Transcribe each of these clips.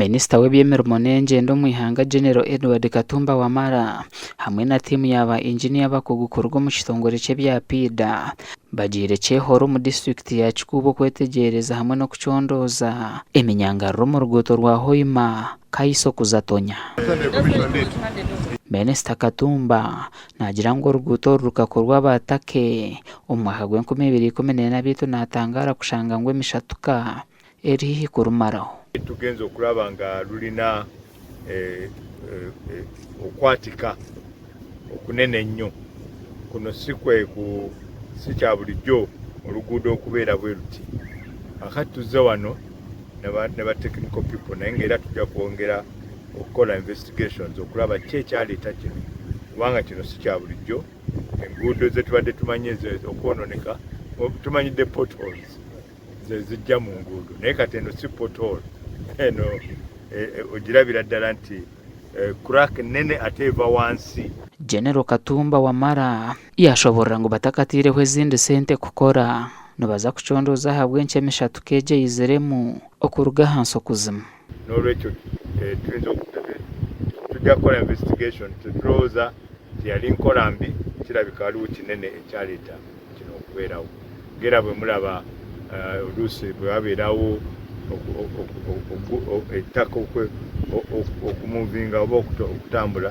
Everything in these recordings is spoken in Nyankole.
Minisita w'eby'emirimo n'engyendo omu ihanga General Edward Katumba Wamala hamwe na tiimu ya ba Engineer abakugu kuruga omu kitongore ky'ebya PIDA bagiire Kyehoro omu disiturikiti ya Kikuuba okwetegyereza hamwe n'okucondooza eminyangariro omu ruguuto rwa Hoima, Kaiso kuza Tonya. Minisita Katumba Naagira ngu oruguuto oru rukakorwa aba Turkey. Omu mwaka gw'enkumi ibiri ikumi n'ena beitu naatangaara kushanga ngu emishatuka eri haihi kurumaraho. Tugyenze okuraba nga rurina okwatika okunene ennyo. Kunu si kya burijjo oruguudo okubeera bwe ruti. Kwonka tuze wano na ba technical people naye ngu era tugya kwongera okukora investigations okuraba ki ekyareta kinu kubanga kinu si kya bulijo enguudo zetubadde tumanyi ezo okwononeka tumanyidde potholes zezijja mu nguudo naye kati eno si pothole eno e, e, ogirabira ddala nti e, crack nene ate eva wansi General Katumba Wamala yashoborora ngu batakataireho ezindi sente kukora nibaza kucondooza ahabw'enki emishatuka egi eyiziremu okuruga ahansi okuzima. N'olwekyo turinze turi kukora investigation turi kurowoza nti yari nkora mbi kirabika hariho kinene ekyareta kinu okuberaho mbwenu bwe muraba olusi bwe waberaho itaka oku movinga oba okutambura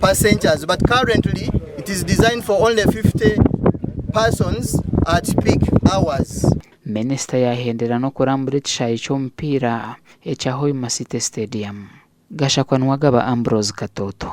passengers but currently it is designed for only 50 persons at peak hours. Minisita yaahendera n'okurambura ekishaayi ky'omupiira ekya Hoima City Stadium. Gashakwa Nuwagaba Ambrose Katooto.